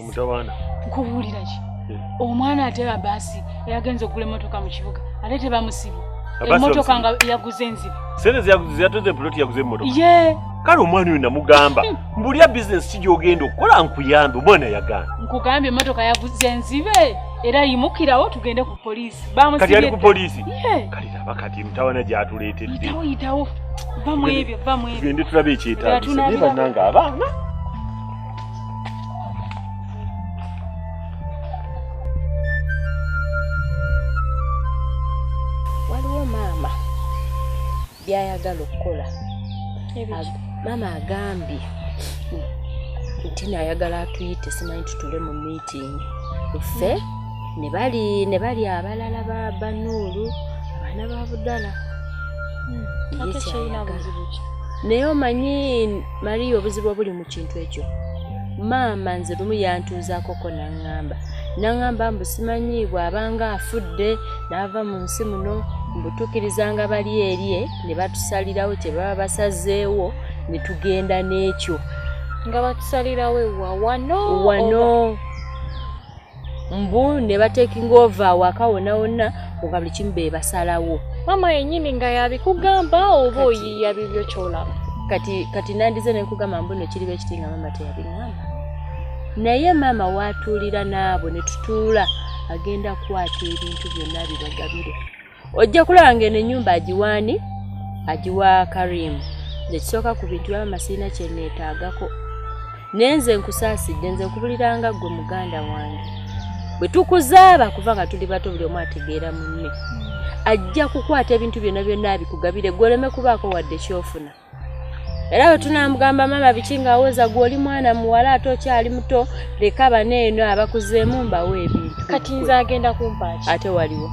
omutawaana nkubuulira ki eh. omwana ate abaasi eyagenza okugula emotoka mu kibuga ate tebamusibu emotoka nga yaguze enzibu sente zeyatuze puloti yaguze emotoka ye kale omwana oyo namugamba hmm. mbulya bizinesi ki gyogenda okukola nkuyambe omwana yagaana nkugambye emotoka yaguze enzibe era yimukirawo tugende ku poliisi kati ali ku poliisi kati laba kati mutawana gyatuleetedde tugende tulabe ekyetaagisa naye bannange abaana byayagala okukola maama agambye nti nayagala atuyite simanyi tutule mu meeting ffe hmm. nebali nebali abalala ba banuulu abaana ba budala hmm. naye omanyi mariya obuzibu obuli mu kintu ekyo maama nze lumu yantuuzaakoko naŋŋamba naŋŋamba mbu simanyi bw'abanga afudde n'ava mu nsi muno mbutukirizanga bali erye ne batusalirawo kye baba basazeewo ne tugenda n'ekyo nga batusalirawo ewa wano wano mbu ne batekinga ova awaka wona wona nga buli kimu be basalawo mama yenyini nga yabikugamba oba oyiya bibyo kyolaba kati kati nandize nenkugamba mbu nekiri bekiti nga mama teyabingamba naye mama watuulira naabo ne tutuula agenda kukwata ebintu byonna bibagabire ojja kulaba ng'eno ennyumba agiwaani agiwa karimu nekisooka ku bintu byaba masiina kyeneetaagako naye nze nkusaasidde nze nkubuliranga ggwe muganda wange bwe tukuzaaba kuva nga tuli bato buli omu ategeera munne ajja kukwata ebintu byonna byonna abikugabire gwe oleme kubaako wadde kyofuna era bwe tunamugamba maama biki ng'awooza gwe oli mwana muwala ate okyali muto leka bana eno abakuzeemu mbawo ebintu kati nze agenda kumpaaki ate waliwo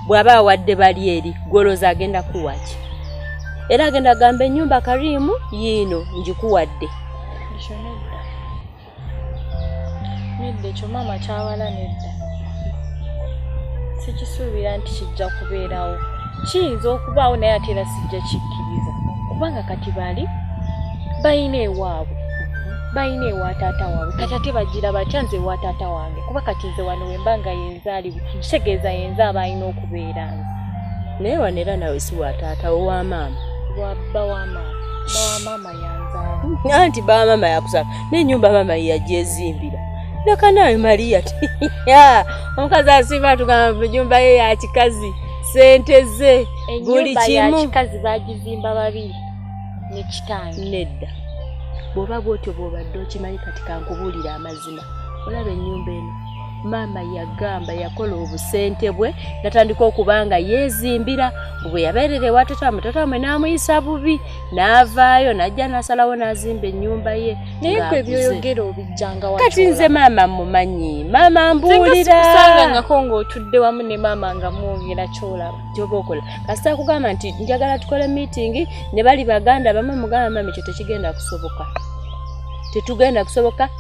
bw'aba awadde bali eri gwolooza agenda kuwaki era agenda gamba ennyumba kariimu yiino ngikuwadde nedda ekyo maama kyawala nedda sikisuubira nti kijja kubeerawo kiyinza okubaawo naye ate era sijja kikkiriza kubanga kati bali balina ewaabwe balina ewa taata waabwe kati ate bagira batya nze ewa taata wange kuba kati nze wano wemba nga yenzaaliwo kitegeeza yenza aba alina okubeera nze naye wano era nawe si wa taata wo wa maama wabba wa maama anti baa mama yakusaka nenyumba mama yajezimbira nakanawe maria ti omukazi asimba tugamba enyumba ye yakikazi sente ze buli kimukikazi bagizimba babiri nekitange nedda bwoba bwotyo bwobadde okimanyi kati kankubuulira amazima olaba ennyumba eno maama yagamba yakola obusente bwe natandika okuba nga yeezimbira bwe yabeerera ewa tatamu tatamu n'amuyisa bubi n'avaayo n'ajja n'asalawo n'azimba ennyumba ye naye gwe byoyogera obijjanga kati nze maama mumanyi maama mbuulirausangangako ng'otudde wamu ne maama nga mwogera kyolaba kyoba okola kasita kugamba nti njagala tukole miitingi ne bali baganda bamu mugamba maama ekyo tekigenda kusoboka tetugenda kusoboka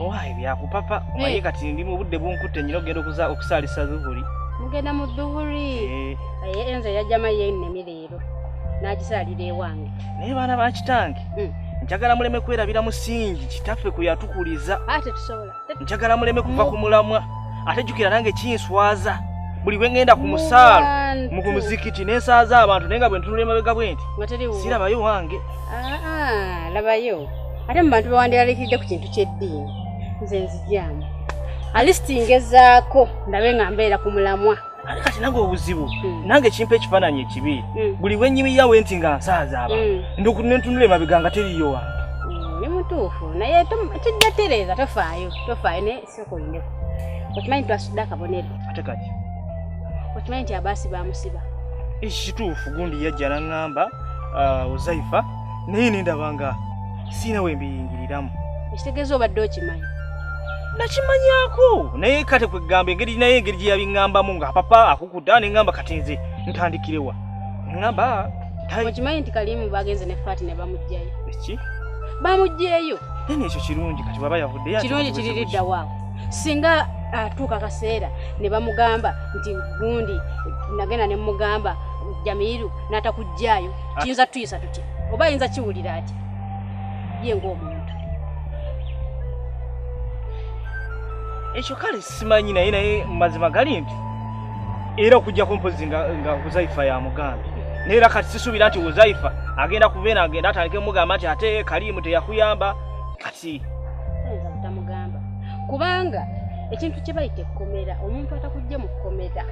owaye byakupapa omaye eh. kati ndi mu budde bunkutte nyina okugenda okuza okusaalisa dhuhuri mugenda mu dhuhuri eh. aye enze yajama yennemi leero n'agisaalira ewange naye baana ba kitange hmm. njagala muleme kwerabira musingi kitaffe kwe yatukuliza njagala muleme kuva ku mulamwa ate jjukira nange kinswaza buli bwe ŋŋenda ku musaalo mu ku muzikiti n'ensaaza abantu naye nga bwe ntunula emabega bwe nti sirabayo wange ah, ah, labayo ate mu bantu bewandyalalikiridde ku kintu ky'eddiini nze nzijaamu alisiti ngezaako ndabe nga mbeera ku mulamwa ate kati nange obuzibu hmm. nange kimpa ekifaananyi ekibi hmm. buli bwenyimiyawo enti nga nsaaza aba hmm. ndokunentunula emabega nga teriyo wange ni mutuufu naye kijja tereeza tofaayo tofaayo Soko ine. Okimanyi twasudde akabonero. Ate kati. Okimanyi nti abaasi bamusiba. Eki kituufu gundi yajja n'aŋŋamba uh, Uzaifa naye ne ndaba nga sirina we mbiyingiriramu. Ekitegeeza obadde okimanyi? Nakimanyako naye kate kwe ggamba engeri naye engeri gye yabiŋŋambamu nga papa akukuta ne ŋŋamba kati nze ntandikirewa ŋŋamba okimanyi nti kalimu bagenze ne fati ne bamugjayo eki bamugjeyo Nene ekyo kirungi kati baba yavudde ya. Kirungi kiriridda wa. Singa atuuka ah, kaseera ne bamugamba nti gundi nagenda ne mugamba Jamiru n'atakujjaayo ah. kiyinza tuyisa tutya oba ayinza kiwulira ati ye ng'omuntu ekyo kale simanyi naye naye mazima gali nti era okujjako mpozi nga huzaifa yamugambye naye era kati sisuubira nti huzaifa agenda kubeera agenda atandike mugamba nti ate kaliimu teyakuyamba kati tamugamba kubanga ekintu kye bayita ekkomera omuntu atakujja mu kkomera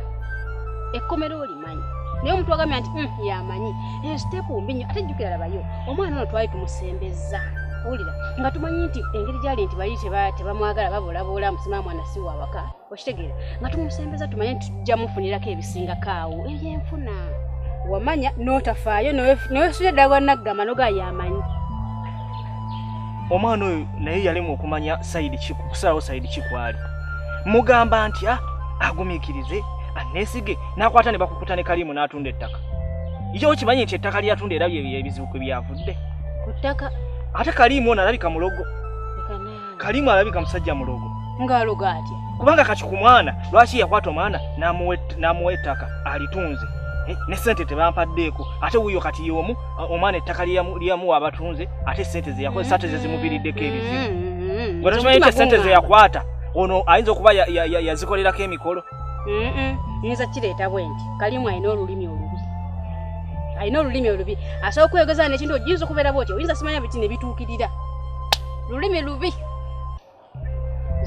ekkomera olimu amanyi naye omuntu wagambye nti hmm, yamanyi eyo sitepu mbi nyo ate jjukira labayo omwana ono twali tumusembeza owulira nga tumanyi nti engeri gyali nti bali tebamwagala babulabuula musima mwana si wawaka okitegeera nga tumusembeza tumanye nti tujja mufunirako ebisingako awo ebyenfuna wamanya notafaayo newesula ddala gwanaggamba noga yamanyi omwana oyo naye yalimu okumanya saidi kusalawo saidi kikwali mugamba nti ah, agumikirize anesige n'akwata ne bakukuta ne kaliimu n'atunda ettaka ija okimanyi nti ettaka lyeyatunda era byebizibu kwe byavudde ku ttaka ate kaliimu ono alabika mulogo kaliimu alabika musajja mulogo ng'alogo atya kubanga kati ku mwana lwaki yakwata omwana n'amuwa ettaka alitunze eh, ne sente tebampaddeeko ate wuyo kati yomu omwana ettaka lyeyamuwa abatunze ate sente zeyakozesa ate zezimuviriddeko ebizibu mm-hmm. nga tokimanyi nti sente zeyakwata ono ayinza okuba yazikolerako emikolo nyinza kireeta bwe nti kalimu alina olulimi olubi alina olulimi olubi asobola okweyogeza nekintu oyinza okubeera bwotyo oyinza simanya biti nebituukirira lulimi lubi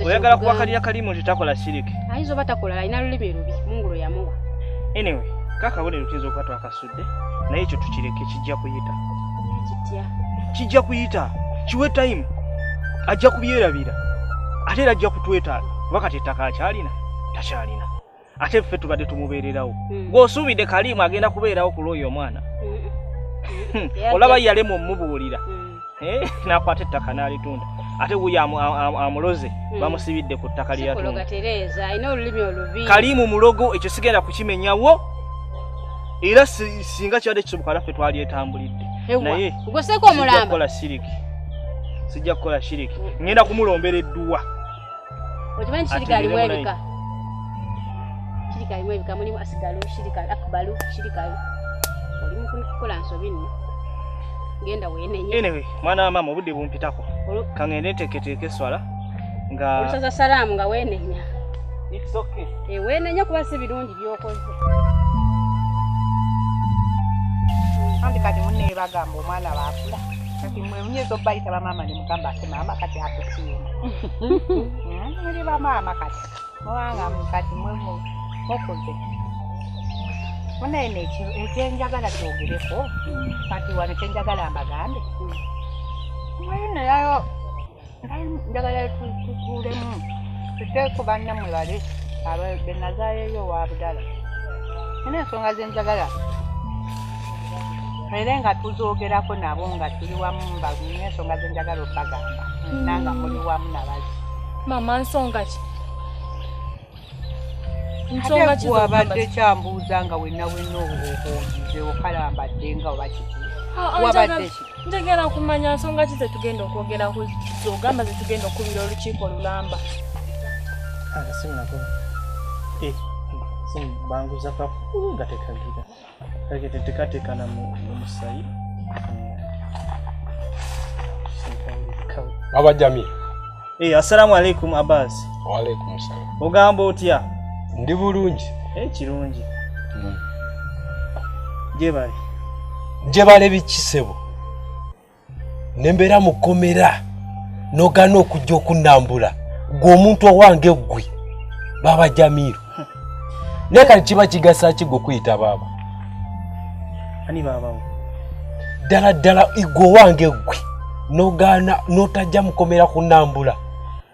oyagala kuwakalira kalimu nti takola siriki ayinza oba takola alina lulimi lubi mungulu yamuwa anyway kakabonero tuyinza okuba twakasu naye ekyo tukireke kijja kuyita kijja kuyita kiwe time ajja kubyerabira ate era ajja kutwetaaga kuba kati ettaka akyalina takyalina ate ffe tubadde tumubeererawo hmm. gweosuubidde kaliimu agenda kubeerawo ku lwoyo omwana hmm. Hmm. olaba yalemu omubuulira Eh, nakwata ettaka n'alitunda ate wuyo amuloze hmm. bamusibidde ku ttaka lyeyatundakalimu mulogo ekyo sigenda kukimenyawo era singa kibadde kisoboka naffe twalyetambulidde naye sijja kukola shiriki ngenda kumulombera edduwa okimanyi shirika alimu ebika shirika alimu ebika mulimu asigalu shirika akbalu shirika olimu kukola nsobi nno genda wenenye anyway mwana wa mama obudde bumpitako kangende nteketeeka eswala nga olusaza salaamu nga wenenya it's okay eh, wenenya kuba si birungi byokoze kandi kati munne bagamba omwana baakula kati mwe muyinza okubayita bamaama ne mugamba maama kati akusiima muli bamaama kati mubanga kati mukuze munaye nekyenjagala kyogereko kati wano kyenjagala mbagambe mwenayayo njagala tutuulemu tuteeku banna mwe bali abenazayeyo wabudala nina ensonga zenjagala mere nga tuzogerako nabo nga tuli wamu mbalumye ensonga zenjagala okubagamba hmm. nanga muli wamu nabazi mama nsonga ki nsonga ki wabadde kyambuuza nga wena wena obuuze okalambadde nga oba kiki ah, ah, wabadde ki njagala kumanya nsonga ki zetugenda okwogera zogamba zetugenda okubira olukiiko lulamba ah, eh, banguza kakulu nga tekagira kake tetekatekana mu musayi baba jami hey, eh, assalamu alaikum abbas waalaikum salam ogamba otya ndi bulungi hey, eh, kirungi mm. jebale jebale bikisebo ne mbeera mu kkomera n'ogaana okujja okunnambula gwe omuntu owange ggwe baaba jamiiro naye kati kiba kigasa ki gwe kuyita baaba ani baabawo ddala ddala igwe owange ggwe n'ogaana n'otajja mukomera kunnambula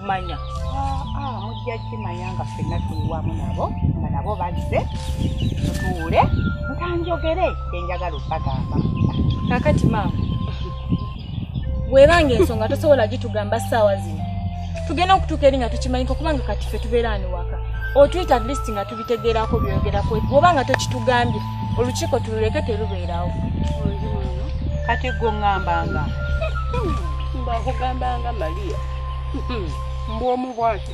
manya ah, ah, mujja kimanya nga fenna tuliwamu nabo nga nabo bazze tutuule ntanjogere kyenjagala okubagamba kakati maama webanga ensonga tosobola gitugamba saawa zino tugenda okutuuka eri nga tukimanyika kubanga kati fe tubeera ani waka otwita atleast nga tubitegeerako byogerako bwoba nga tokitugambye olukiiko tululeke terubeerawo kati gwe ŋŋambanga mbakugambanga maria mbu omu bwati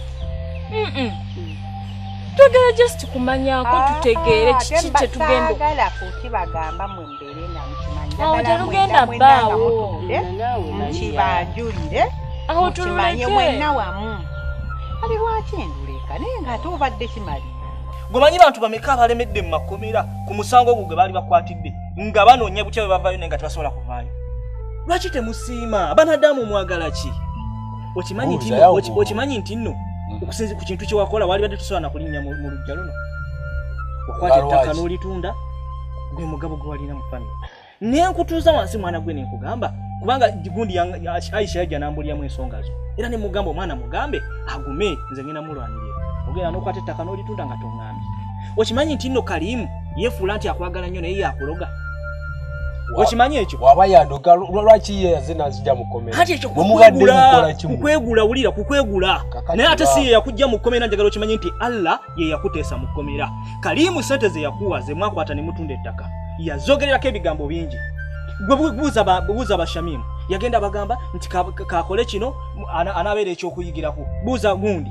twagala just kumanyako ah, tutegeere kiki kyetugendagala kukibagamba mwe mbeere namukimanyiaoterugenda baawo nkibajulire mukimanye mwenna wamu ali lwaki nduleka naye ngaate obadde kimalire gwemanyi bantu bameka abalemedde mu makomera ku musango ogwo gwe baali bakwatidde nga banoonya butya bwe bavaayo naye nga tebasobola kuvaayo lwaki temusiima banadamu mwagala ki okimanyi nti nno mm. okusinzi ku kintu kyewakola walibadde tusobola nakulinnya mu lujja luno okwata ettaka n'olitunda gwe mugabo gwe walina mu famiry naye nkutuuza wansi mwana gwe nenkugamba kubanga gundi aisha yajja nambulyamu ensonga zo era nemugamba omwana mugambe agume nze ngenda mulwanirira ogenda nokwata ettaka n'olitunda nga tonga okimanyi nti nno kalimu yefuula nti akwagala nnyo naye yakuloga okimanyi ekyo waba yandoga lwaki ye yazina azija mukomera kati ekyo kukwegula kukwegula wulira kukwegula naye ate si ye yakujja mu kkomera njagala okimanyi nti allah ye yakuteesa mu kkomera kalimu sente ze yakuwa ze mwakwata ne mutunda ettaka yazogererako ebigambo bingi gwe buuza bashamimu yagenda bagamba nti kakole kino anaabeera ekyokuyigirako buuza gundi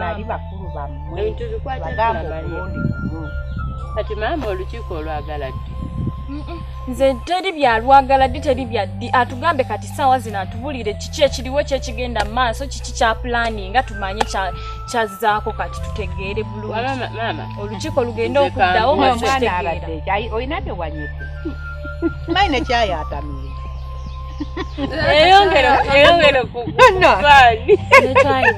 bali bakulu bammwe bagamba omulundi gumu kati maama olukiiko olwagala ddi nze teri byalwagala ddi teri byaddi atugambe kati saawa zino atubulire kiki ekiriwo kyekigenda mu maaso kiki kya pulaani nga tumanye kyazzaako kati tutegeere bulungi olukiiko lugende okuddawo olina tewanyete mayi nekyayatamire eyongere eyongere kukufaani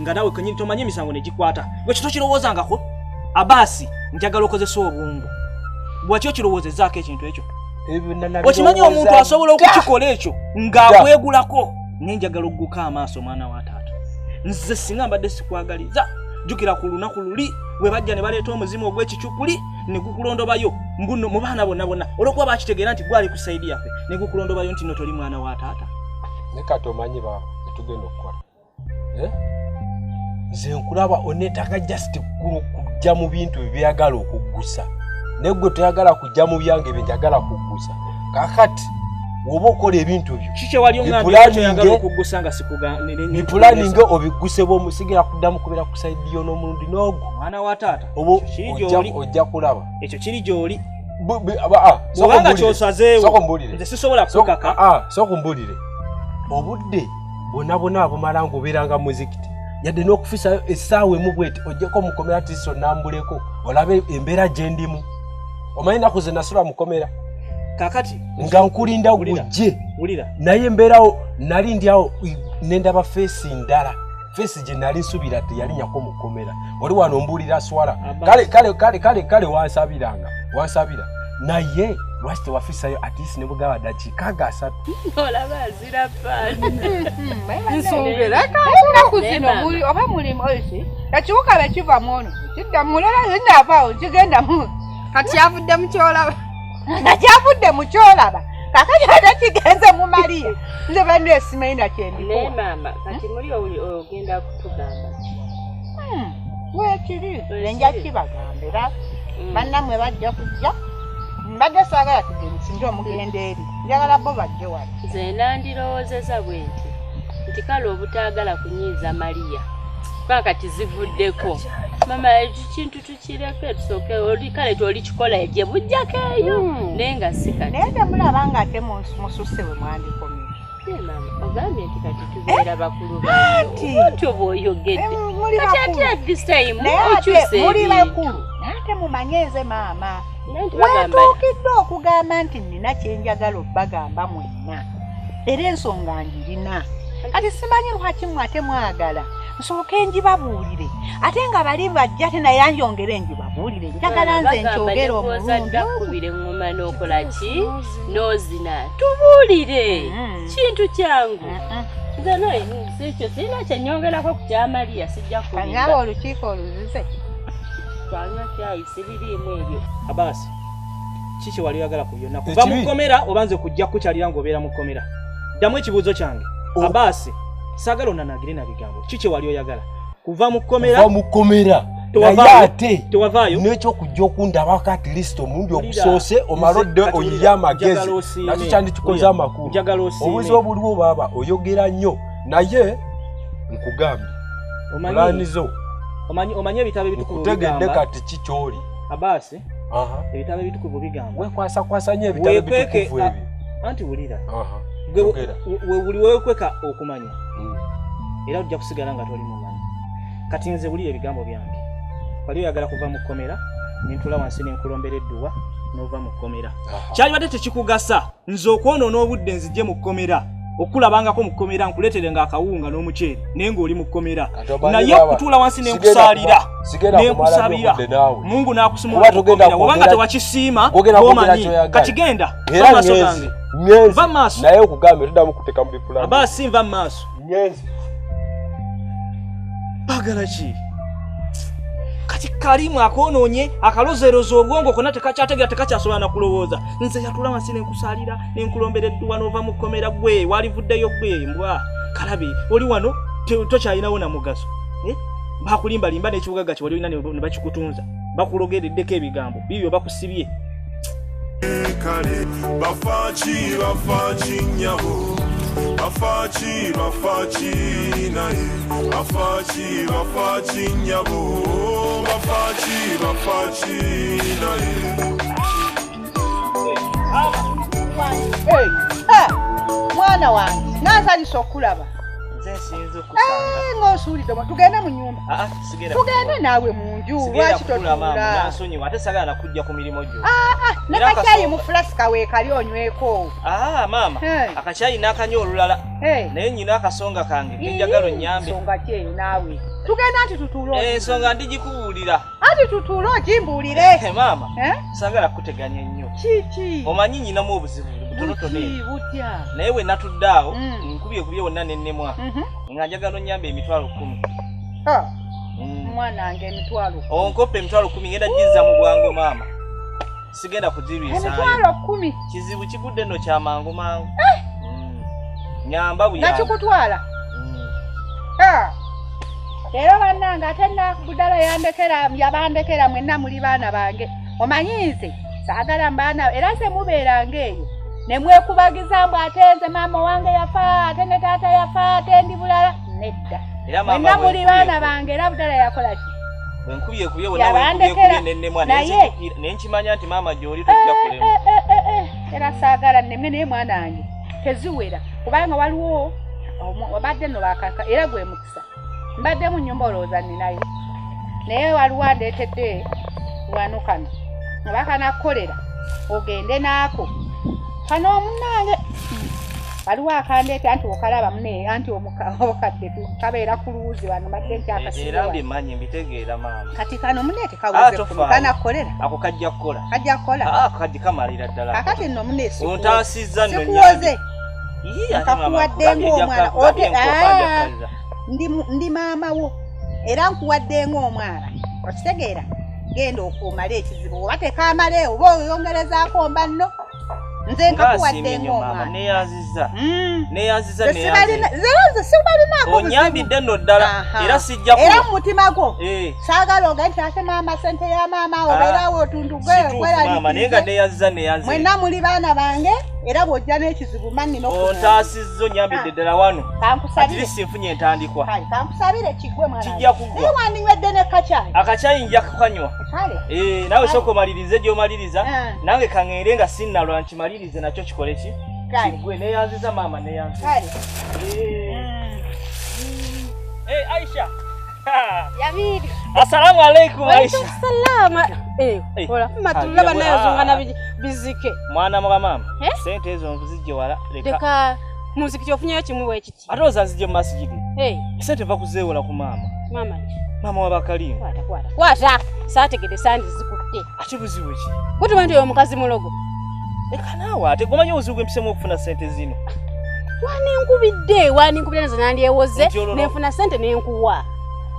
nga nawe kenyini tomanyi emisango negikwata ekyo tokirowoozangako abaasi njagala okozesa obwongo bwaki okirowoozezaako ekintu ekyo okimanyi omuntu asobola okukikola ekyo ng'akwegulako naye njagala okuguka amaaso omwana wa taata nze singa mbadde sikwagaliza jjukira ku lunaku luli bwe bajja ne baleeta omuzimu ogw'ekicupuli ne gukulondobayo mbuno mu baana bonna bonna olwokuba bakitegeera nti gwali ku sayidi yaffe ne gukulondobayo nti no toli mwana wa taata ne kati omanyi baaba etugenda okukola eh? nze nkulaba onetaka just kujja mu bintu byebyagala okuggusa naye gwe toyagala kujja mu byange byenjagala kuggusa kakati woba okola ebintu byobipulaninge obigguse bwomusigera kuddamu kubeera ku saidi yo n'omulundi n'ogu ojja kulaba ekyo kiri gyoli obanga kyosazeewo nze sisobola kukaka sokumbulire obudde bonabona abumala ngaobeeranga muzikiti yadde n'okufisayo essaawa emu bweti ojjeko mukomera tiso nambuleko olabe embeera gye ndimu omanyi naku ze nasula mukomera kakati nga nkulinda gujje naye embeerawo nali ndyawo nendaba feesi ndala feesi gye nali nsubira teyalinyako mukomera oli wano mbuulira swala kale kale kale kale kale wansabiranga wansabira naye lwaki tewafisayo atisi nebugaba dakika gasatu ennaku zino oba mulimu ki ekiwuka be kiva mu ono kidda mulala zinaavaawo kigenda mu kati avudde mu kyolaba nga kyavudde mu kyolaba kakati ate kigenze mu maliya nze bandu esimanyi nakyendikuwa maama kati muli ogenda kutugamba hmm, wekiri enja kibagamba era hmm. bannamwe bajja kujja mbadde saagala tugende singa omugenda eri njagala bo bajje wali nze nandirowoozeza bwe nti nti kale obutaagala kunyiiza maliya kuba kati zivuddeko mama ekyo kintu tukireke tusooke oli kale toli kikola egye bujjako eyo hmm. naye nga sikati naye temulaba nga ate mususse bwe mwandikomye ogambye nti kati tubeera eh? bakulu bantu oba oyogedde eh, kati ate at this time okyuse muli bakulu ate mumanye nze maama wetuukidde okugamba nti nina kyenjagala okubagamba mwenna era ensonga ngirina kati simanyi lwaki mwe ate mwagala nsooke njibabuulire ate nga bali bajja te naye anjongere njibabuulire njagala nze nkyogere omulungi nozina tubuulire mm-hmm. kintu kyangu nze nekyo sirina kyenyongerako ku kyamaliya sijja kuaba olukiiko oluzize twanywa kyayi sibiriimu ebyo abaasi ki kyewali oyagala ku byonna kuva mu kkomera oba nze kujja kukukyalira ng'obeera mu kkomera ddamu ekibuuzo kyange oh. abaasi saagala onanagire na bigambo ki kyewali oyagala kuva mu kkomera kuva mu kkomera naye ate n'ekyokujja okundabako at least omulundi ogusoose omala odde oyiye amagezi nakyo kyandikikoze amakulu obuzi obuliwo baaba oyogera nnyo naye nkugambye pulaani zo omanyi ebitabo ebitukutegedde kati ki kyoli abaasi ebitabo ebitukuvu bigamba wekwasakwasa nyo ebitabo ebitukuvu ebyo anti wulira webuli wekweka okumanya hmm. era ojja kusigala nga toli mumanyi kati nze wulira ebigambo byange wali oyagala kuva mu kkomera nentula wansi nenkulombera edduwa nova mu kkomera kyalibadde tekikugasa nze okwonoona obudde nzije mu kkomera okukulabangako mu kkomera nkuleetere nga akawunga n'omuceere naye ng'oli mu kkomera naye okutuula wansi ne nkusaalira ne nkusabira mungu n'akusumulaoera obanga tewakisiima omanyi kati genda maaso gange va maaso naye okugambye todamu kuteka mu bipulani abasi nva maaso ngenze bagala ki kati kalimu akonoonye akalozeeroza obwongo kona tekakyategera tekakyasobola nakulowooza nze yatula wansi nenkusalira nenkulombera edduwa nova mu kkomera gwe walivuddeyo gwe mbwa kalabe oli wano tokyalinawo namugaso eh? bakulimbalimba nekibugaga kyewali olina nebakikutunza bakulogereddeko ebigambo bibyo bakusibye kale bafaki bafaki nyabo bafaki bafaki naye bafaki bafaki nyabo bafaki bafaki naye mwana wange nansanyusa okulaba eh, ngaosuulidde tugende mu nyumba ah, ah. tugende naawe munju lwaki totuulansonyiwa ate sagala nakujja ku mirimu gyo ah, ah, nakakyayi mu fulasika weekali onyweko ah, maama akakyayi nakanywa olulala naye nyina akasonga kange kenjagala onyambe ensonga kyeyo naawe tugenda nti tutuule eh, ensonga ndigikubuulira anti tutuule ogimbuulire eh, maama eh? sagala kukuteganya ennyo kiki omanyi nyinamu obuzibu butonotono naye bwe natudde awo mm. nkubye kubye wonna nennemwa mhm. nga njagala onyambe emitwalo kkumi omwana wange emitwalo onkopa emitwalo kumi ngenda gizza mu bwangu maama sigenda kugirwisaemitwalo kumi kizibu kigudde no kyamangu mangu eh! mm. nyamba buyakikutwala mm. ah! era bannange ate nakudala yandekera yabandekera mwenna muli baana bange omanyi nze saagala mbaana era nze mubeeranga eyo ne mwekubagiza mbu ate nze maama owange yafa ate ne taata yafa ate ndi bulala nedda mwenna muli baana bange era budala yakola ki bwenkubye kubye bwenawenkimanya nti maama gyoli eh, tojja eh, kulema eh, era saagala neme naye mwana wange teziwera kubanga waliwo obadde no bakaka era gwe mukisa mbadde mu nyumba olowooza ninayo naye waliwo andeetedde wano kano obakanakukolera ogende naako kano omunange waliwo akandeeta nti okalaba mune anti obukadde kabeera ku luwuzi wano madde nti akasirambimanyi mbitegeera maama kati kano mune tekawuzeana kukolera ako kajja kukola kajja kukola ah, kadi kamalira ddala akati nno mune ontaasizza nnokuwoze nkakuwadde ngaomwana ote ah, ndi maama wo era nkuwadde ngaomwana okitegeera genda okuumala ekizibu oba tekamale oba oyongerezaako mbanno nze nkakuwadde ng'omwana neyanziza hmm. neyanziza neyanziza sibalinaako onyambidde nno ddala era sijja era mu mutima gwo eh. saagala oga nti ate maama sente ya maama ah. obeerawo otundu gwemaama naye nga neyanziza neyanziza mwenna muli baana bange era bw'ojja n'ekizibu manni ontaasizza onyambidde ah. ddala wano atirisi nfunye entandikwa kankusabire kigwe mwana kijja kugwa naye wandinywedde ne kacyayi akacyayi nja kukanywa Eh, nawe soko malirize gyo maliriza eh. nange kangere nga sinna lwa nkimalirize nakyo kikole ki kigwe neyanziza maama neyanzi eh. eh, aisha assalamu alaikum aishamatulaba naye zungana bizike mwana mwa maama sente ezo nzijje wala leka muzikiti ofunyeyo kimu bwekiti kati. Ate ozazije mu masjidi. Hey. Sente va kuzeewola ku maama. Maama ki? Maama wa Bakalimu. Kwata kwata. Kwata. Saategede sandi zikutte. Ate buzibu ki? Kuti bantu yo mukazi mulogo. Leka naawe ate gomanyi obuzibu bw'empisemu okufuna sente zino. Wani nkubidde, wani nkubidde nazo nandyewoze, nenfuna sente nenkuwa.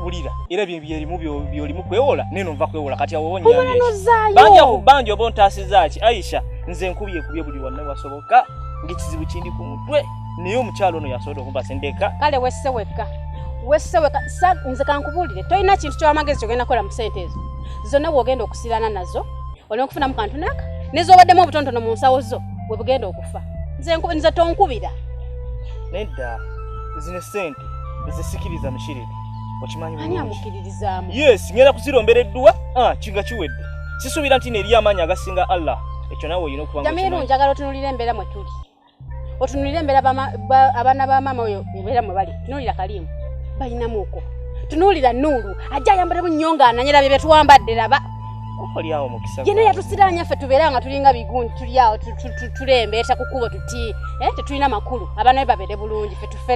Wulira, era bye byerimu byolimu kwewola, neno nva kwewola kati awo wonyambye. Omwana nozaayo. Banja ku banja oba ontaasizza ki? Aisha, nze nkubye kubye buli wanna wasoboka. ng'ekizibu kindi ku mutwe naye omukyalo ono yasobola okumpa sendeka kale wesse wekka wesse wekka nze kankubuulire tolina kintu kyowamagezi kyogenda kola mu sente ezo zonna wogenda okusirana nazo olina okufunamu kantu naka nezobaddemu obutontono mu nsawo zo webugenda okufa nze tonkubira nedda zino sente zisikiriza mushirire yes ngenda kuzirombera edduwa ah, kinga kiwedde sisuubira nti neeriyo amaanyi agasinga allah ekyo nawe olina okuba njagala otunulira embeera mwe tuli otunulira embeera abaana ba maama oyo ebeera mwe bali tunuulira kaliimu balinamu uko tunuulira nuulu ajja ayambala mu nnyonga ananyera bye byetwambadde laba yena yatusiraanya ffe tubeera nga tulinga bigundi tuli awo tulembeeta ku kkubo tuti eh, tetulina makulu abaana be babeere bulungi fe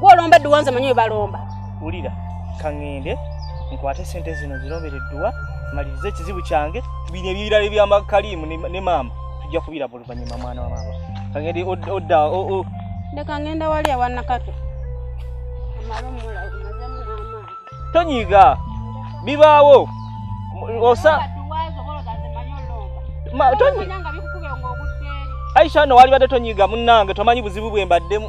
gwolomba edduwa nze manyi webalomba wulira kaŋŋende nkwate sente zino zirombera edduwa maliriza ekizibu kyange bino ebirala ebyamakaliimu ne maama tujja kubiraba oluvannyuma mwana wa maama kaŋŋende odda leka ŋŋenda wali awanakato amala omulago mazemu n'amaani tonyiiga bibaawo osa aisha no walibadde tonyiiga munnange tomanyi buzibu bwe mbaddemu